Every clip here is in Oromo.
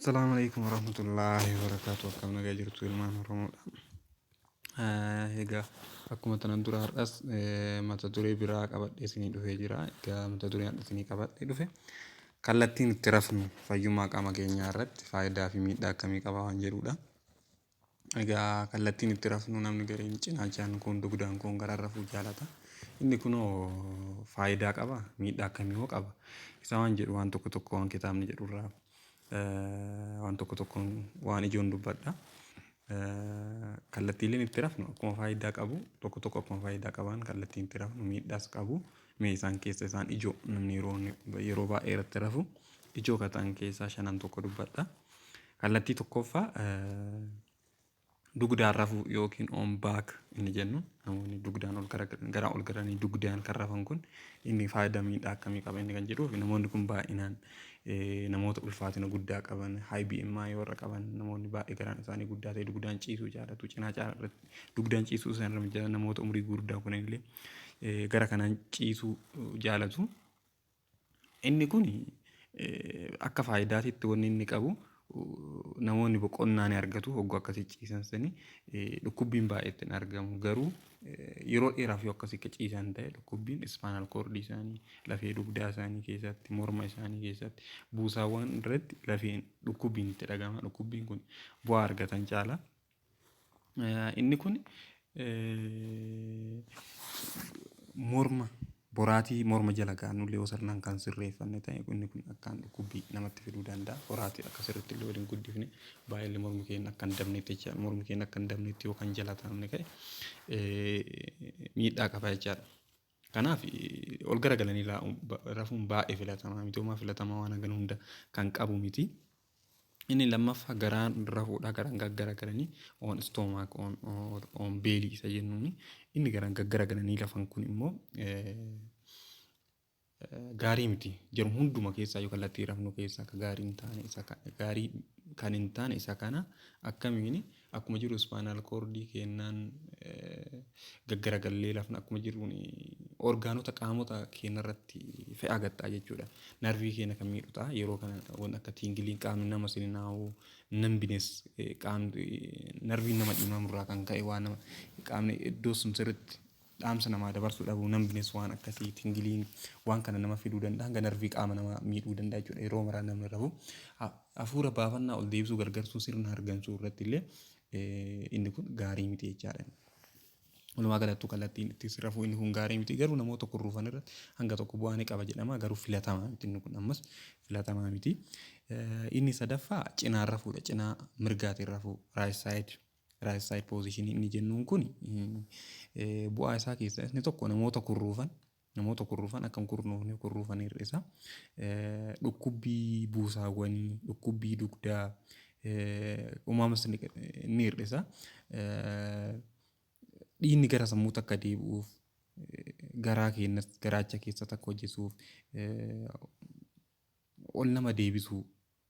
Assalamu alaikum warahmatullahi wabarakatuh akkam nagaa jirtu ilmaan Oromoodha. Egaa akkuma tanan dura har'as mata duree biraa qabadhee isinii dhufee jira. Egaa mata duree har'a isinii qabadhee dhufe kallattiin itti rafnu fayyummaa qaama keenyaa irratti faayidaa fi miidhaa akkamii qaba waan jedhudha. Egaa kallattiin itti rafnu namni gariin cinaachaan kuun dugdaan kuun garaan rafuu jaalata. Inni kunoo faayidaa qaba miidhaa akkamii hoo qaba? Isa waan jedhu waan tokko tokko waan kitaabni jedhu irraa waan tokko tokkoon waan ijoon dubbadha. Kallattiileen itti rafnu akkuma faayidaa qabu tokko tokko akkuma faayidaa qaban kallattiin itti rafnu miidhaas qabu. Mee isaan keessa isaan ijoo namni yeroo yeroo baay'ee irratti rafu ijoo kan ta'an keessaa shanan tokko dubbadha. Kallattii tokkoffaa dugdaan rafuu yookiin on back inni jennu namoonni dugdaan ol garaa ol garanii dugdaan kan rafan kun inni faayidaa miidhaa akkamii qaba inni kan jedhuuf namoonni kun baay'inaan namoota ulfaatina guddaa qaban high BMI warra qaban namoonni baay'ee garaan isaanii guddaa ta'e dugdaan ciisuu jaalatu cinaa caalaa irratti dugdaan ciisuu isaan irra mijata namoota umurii guddaa kun illee gara kanaan ciisuu jaalatu. Inni kun akka faayidaatitti wanni inni qabu namoonni boqonnaa ni argatu hogguu akkasii ciisan sani dhukkubbiin baay'eetti hin argamu garuu yeroo dheeraaf yoo akkasii ciisan ta'e dhukkubbiin ispaanal koordii isaanii lafee dugdaa isaanii keessatti morma isaanii keessatti buusaawwan irratti lafeen dhukkubbiin itti dhagama dhukkubbiin kun bu'aa argatan caala. Inni kun morma boraatii morma jala kaa'annullee yoo sirnaan kan sirreeffanne ta'e inni kun akkaan dhukkubbii namatti fiduu danda'a. Boraatii akka sirriitti illee waliin guddifne baay'ee mormi keenya akka hin dabnetti jecha mormi keenya akka hin dabnetti yoo kan jala taa'amne ta'e miidhaa qaba jechaadha. Kanaaf ol gara galanii rafuun baay'ee filatamaa miti. Homaa filatamaa waan hagana hunda kan qabu miti. Inni lammaffaa garaan rafuudha garaan gaggaragalanii on stomach on on belly isa jennuuni inni garaan gaggaragalanii lafan kun immoo gaarii miti jiru hunduma keessaa yoo kallattii rafnu keessaa akka gaarii hin taane isa gaarii kan hin taane isa kana akkamiin Akkuma jiru ispaanaal koordii keennaan gaggaragallee lafna akkuma jiruun orgaanota qaamota keenna irratti fe'aa gaxxaa jechuudha. Narvii keenya kan miidhu ta'a. Yeroo kana wanti akka tiingiliin qaamni nama sininaa'u nambines qaamni narviin nama dhiimamu irraa kan ka'e waan nama qaamni iddoo sun sirriitti Dhaamsa namaa dabarsuu dhabuu, numbness, waan akkasii, tingling, waan kana nama fiduu danda'a. Hanga narvii qaama namaa miidhuu danda'a jechuudha. Yeroo maraa namni rafu hafuura baafannaa ol deebisuu gargarsuu sirna hargansuu irratti illee inni kun gaarii miti jechaadha. Walumaa galattuu kallattiin itti rafuu inni kun gaarii miti. Garuu namoota kun rufan irratti hanga tokko bu'aa ni qaba jedhama. Garuu filatamaa miti inni kun ammas filatamaa miti. Inni sadaffaa cinaan rafuudha. Cinaa mirgaatiin rafuu, right side. Right side position inni jennuun kun bu'aa isaa keessaa inni tokko namoota kurruufan namoota kurruufan akka hin kurnuufne kurruufan hir'isa. Dhukkubbii buusaawwanii, dhukkubbii dugdaa, umaamas ni hir'isa. Dhiinni gara sammuutti akka deebi'uuf garaa keenyas garaacha keessatti akka hojjetuuf ol nama deebisuu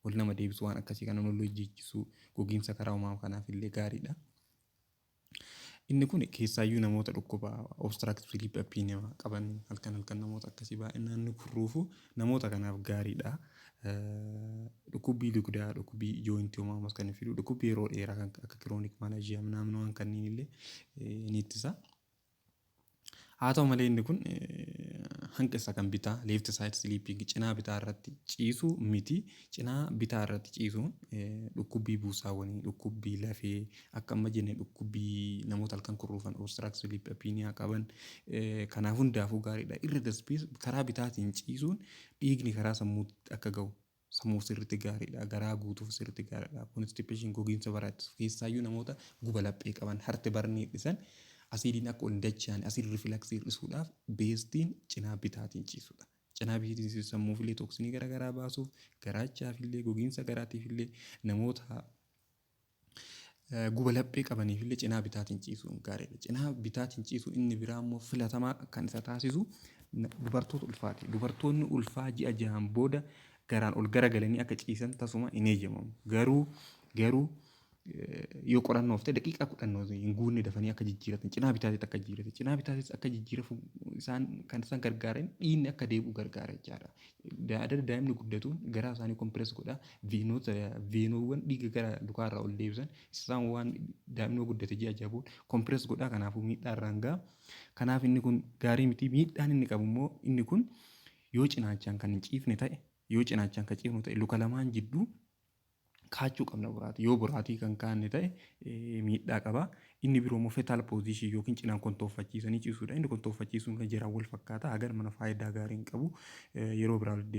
wal nama deebisu waan akkasii kana wal hojjeechisuu gogiinsa karaa uumama kanaaf illee gaariidha. Inni kun keessaayyuu namoota dhukkuba obstructive sleep apnea qaban halkan halkan namoota akkasii baay'inaan ni kurruufu namoota kanaaf gaariidha. Dhukkubbii dugdaa, dhukkubbii jooyintii uumamaas kan fidu, dhukkubbii yeroo dheeraa kan akka kiroonik malaajiyaa naannoo kanniin illee ni ittisa. Haa ta'u malee inni kun hanqi isaa kan bitaa, left side sleeping, cinaa bitaa irratti ciisuu miti. Cinaa bitaa irratti ciisuun dhukkubbii buusaawwanii, dhukkubbii lafee, akka amma jenne dhukkubbii namoota halkan kurruufan obstruct sleep apnea qaban kanaa hundaafuu gaariidha. Irra darbees karaa bitaatiin ciisuun dhiigni karaa sammuutti akka ga'u Samuuf sirriitti gaariidha. Garaa guutuuf sirriitti gaariidha. Constipation, gogiinsa baraa ittisuuf, keessaayyuu namoota guba laphee qaban, heart burn hir'isan, asiidiin akka ol hin dachaane, acid reflux hir'isuudhaaf beestiin cinaa bitaatiin ciisuudha. Cinaa bitiitiin ciisuun sammuufillee tooksinii gara garaa baasuuf, garaachaafillee, gogiinsa garaatiifillee, namoota Guba laphee qabaniifillee cinaa bitaatiin ciisuun gaariidha. Cinaa bitaatiin ciisuu inni biraa immoo filatamaa kan isa taasisu dubartoota ulfaati. Dubartoonni ulfaa ji'a jahaan booda garaan ol garagalanii akka ciisan tasuma hin eeyyamamu. Garuu garuu yoo qorannoof ta'e daqiiqaa kudhan hin guunne dafanii akka jijjiiratan cinaa bitaatiin akka jijjiiratan cinaa bitaatiin akka jijjiirafu isaan kan isaan gargaaran dhiinni akka deebi'u gargaara jechaadha. Daadar daa'imni guddatu garaa isaanii kompirees godha. Veenota veenoowwan dhiiga gara lukaa irraa ol deebisan isaan waan daa'imni guddate ji'a jaha booda kompirees godha kanaafuu miidhaa irraan ga'a. Kanaaf inni kun gaarii miti miidhaan inni qabu immoo inni kun yoo cinaachaan kan hin ciifne ta'e yoo cinaachaan kan ciifnu ta'e luka lamaan jidduu kaachuu qabna boraatii. Yoo boraatii kan kaanne ta'e miidhaa qaba. Inni biroo immoo fetal position yookiin cinaan kontooffachiisanii ciisuudha. Inni kontooffachiisuun kan jiraan wal fakkaata. Hagan mana faayidaa gaarii hin qabu. Yeroo biraa walitti deebina.